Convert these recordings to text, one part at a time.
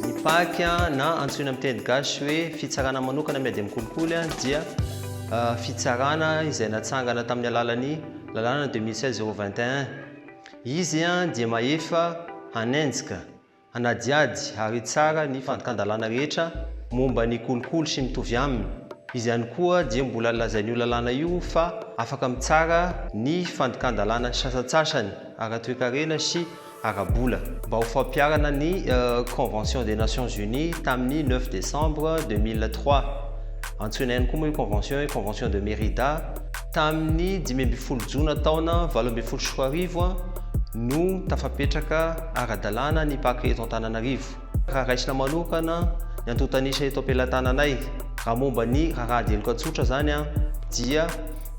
Ny pac na antsoina amin'ny teny gasy hoe fitsarana manokana miady amin'ny kolikoly dia fitsarana izay natsangana tamin'ny alalan'ny lalàna deux mille seize zéro vingt et un. Izy dia mahefa hanenjika. hanadihady ary hitsara ny fandikan-dalàna rehetra momba ny kolikoly sy mitovy aminy. Izy ihany koa dia mbola lazain'io lalàna io fa afaka mitsara ny fandikan-dalàna sasantsasany ara-toekarena sy ara-bola. Mba ho fampiharana ny Convention des Nations Unies tamin'ny neuf décembre deux mille trois, antsoina ihany koa moa io Convention io hoe Convention de Mérida, Tamin'ny dimy ambin'ny folo jona taona valo ambin'ny folo sy roa arivo no tafapetraka ara-dalàna ny Paka eto Antananarivo. Raha raisina manokana ny antontan'isa eto am-pelatananay, raha momba ny raharaha diloka tsotra izany dia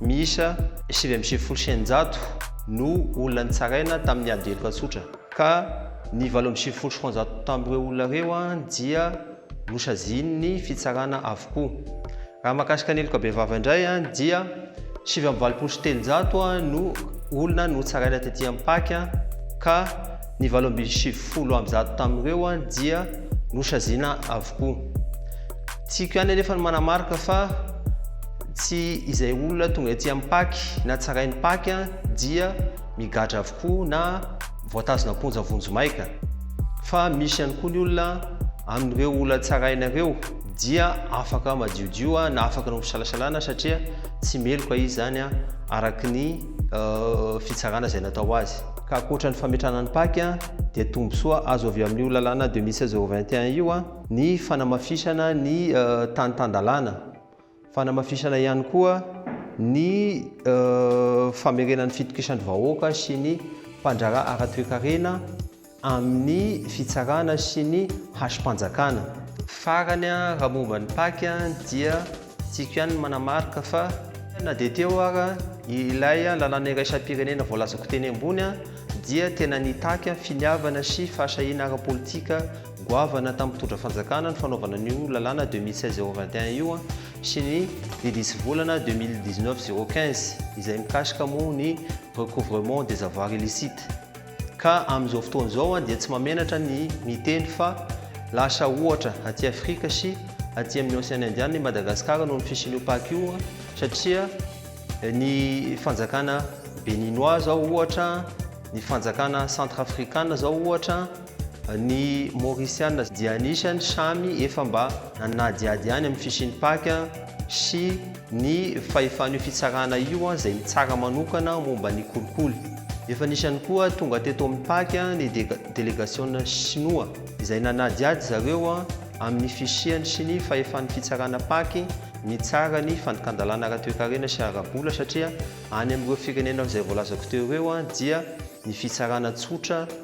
miisa sivy amby sivifolo sy eninjato no olona nitsaraina tamin'ny ady diloka tsotra ka ny valo amby sivifolo sy roanjato tamin'ireo olona ireo dia nosazian'ny fitsarana avokoa. Raha mahakasika ny heloka bevava indray dia sivy amby valopolo sy telonjato no olona notsaraina tety Ampachy ka ny valo ambin'ny sivifolo amby zato tamin'ireo dia nosaziana avokoa. Tiako ihany anefa ny manamarika fa tsy izay olona tonga ety Ampachy na tsarain'ny Pachy dia migadra avokoa na voatazona am-ponja vonjimaika, fa misy ihany koa ny olona amin'ireo olona tsaraina ireo dia afaka madiodio na afaka ny fisalasalana satria tsy meloka izy izany araka ny fitsarana izay natao azy. Ka ankoatra ny fametrahana ny pac dia tombontsoa azo avy amin'io lalàna deux mille seize zéro vingt et un io ny fanamafisana ny tany tan-dalàna. Fanamafisana ihany koa ny famerenan'ny fitokisandry vahoaka sy ny mpandraharaha ara-toekarena amin'ny fitsarana sy ny hasim-panjakana. Farany, raha momba ny pac dia tiako ihany ny manamarika fa na dia teo ara ilay lalàna iraisam-pirenena voalazako teny ambony dia tena nitaky finiavana sy fahasahiana ara-politika Goavana tamin'ny mpitondra fanjakana ny fanaovana an'io lalàna 2016 021 io sy ny didy isivolana 2019 015 izay mikasika moa ny recouvrement des avoirs illicites. Ka amin'izao fotoana izao dia tsy mahamenatra ny miteny fa lasa ohatra aty Afrika sy aty amin'ny Ocean Indiana i Madagasikara noho ny fisian'io Pac io satria ny fanjakana Beninois izao ohatra, ny fanjakana Centrafricana izao ohatra, Ny Maorisiana dia anisan'ny samy efa mba nanadihady ihany amin'ny fisian'ny paka sy ny fahefan'io fitsarana io izay mitsara manokana momba ny kolikoly. Efa nisy ihany koa tonga teto amin'ny paka ny delegasiona Shinoa izay nanadihady zareo amin'ny fisiany sy ny fahefan'ny fitsarana paky mitsara ny fandikan-dalàna ara-toekarena sy ara-bola satria any amin'ireo firenena izay voalazako teo ireo dia ny fitsarana tsotra